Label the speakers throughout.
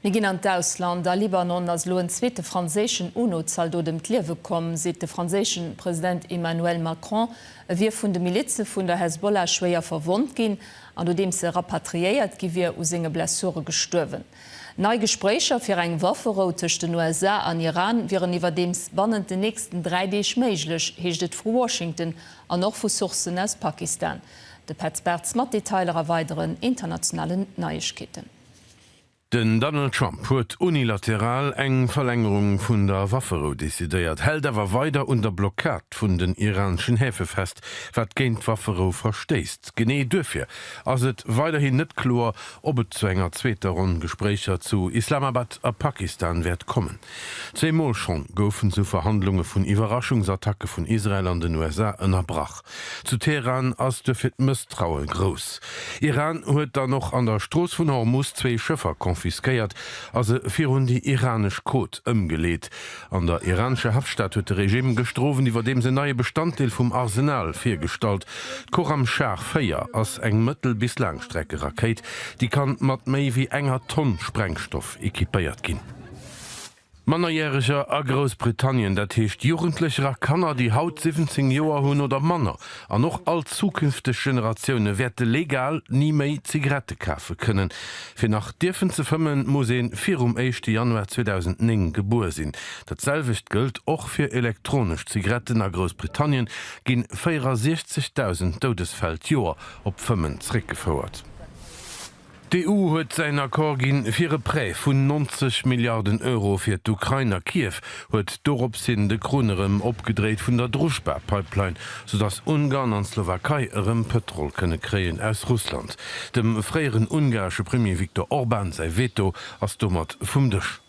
Speaker 1: Mir ginn an d'Ausland, A Libanon ass elo en zweete franséischen UNO-Zaldot ëm d'Liewe komm, seet de franséischen President Emmanuel Macron. E wier vun de Milize vun der Hezbollah schwéier verwonnt ginn an nodeems e rapatriéiert gi wier, u senge Blessure gestuerwen. Nei Gespréicher fir eng Wafferou tëscht den USA an Iran wieren iwwerdeems bannent den nächsten dräi Deeg méiglech, heescht et vu Washington an och vu Sourcen aus Pakistan. De Petz Bartz mat Detailer a weideren internationalen Neiegkeeten. Den Donald Trump huet unilateral eng Verlängerung vun der Wafferou decidéiert, hält awer weider un der Blockad vun den iraneschen Häfe fest, wat géint d'Wafferou verstéisst. Genee duerfir ass et weiderhin net kloer, ob et zu enger zweeter Ronn Gespréicher zu Islamabad a Pakistan wäert kommen. Zwee Mol schonn goufen sou Verhandlunge vun Iwwerraschungsattacke vun Israel an den USA ënnerbrach. Zu Teheran ass duerfir d'Mësstraue grouss. Iran huet dann och an der Strooss vun Hormus zwee Schëffer confisquéiert a se virun déi iranesch Côte ëmgeleet. An der iranescher Haaptstad huet de Regime gëschter Owend iwwerdeems en neie Bestanddeel vum Arsenal virgestallt. D'Khorramshahr 4 ass eng Mëttel bis Laangstreckerakéit, déi kann mat méi wéi enger Tonn Sprengstoff equipéiert ginn. Mannerjäreger a Groussbritannien, dat heescht Jugendlecher a Kanner, déi haut 17 Joer hunn oder manner, an och all zukünfteg Generatioune wäerte legal ni méi Zigarette kafe kënnen. Fir nach dierfen ze fëmmen, muss ee virum éischte Januar 2009 gebuer sinn. Dat selwecht gëllt och fir elektronesch Zigaretten. A Groussbritannien ginn 64.000 Doudesfäll d'Joer op d'Fëmmen zréckgefouert. D'EU huet säin Accord ginn, fir e Prêt vun 90 Milliarden Euro fir d'Ukrain, a Kiew huet dorops hin de Krunn erëm opgedréit vun der Druzjba-Pipeline, sou datt Ungarn an d'Slowakei erëm Pëtrol kënne kréien aus Russland. Dem fréieren ungaresche Premier Viktor Orban säi Veto ass domat vum Dësch.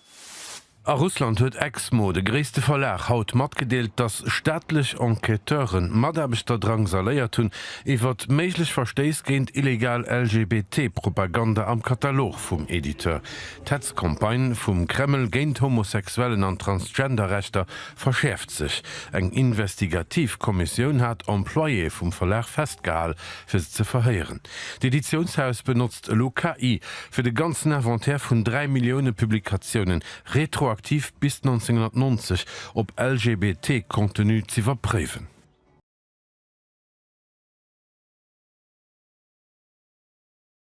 Speaker 1: A Russland huet Exmo, de gréisste Verlag, haut matgedeelt, datt staatlech Enquêteure Mataarbechter drangsaléiert hunn iwwer méiglech Verstéiss géint illegal LGBT-Propaganda am Katalog vum Editeur. D'Hetzcampagne vum Kreml géint Homosexuellen an Transgender-Rechter verschäerft sech. Eng investigativ Kommissioun hat Employée vum Verlag festgehal, fir se ze verhéieren. D'Editiounshaus benotzt Elo KI fir de ganzen Inventaire vun 3 Millioune Publikatiounen, retroaktiv bis 1990, op LGBT-Contenu z'iwwerpréiwen.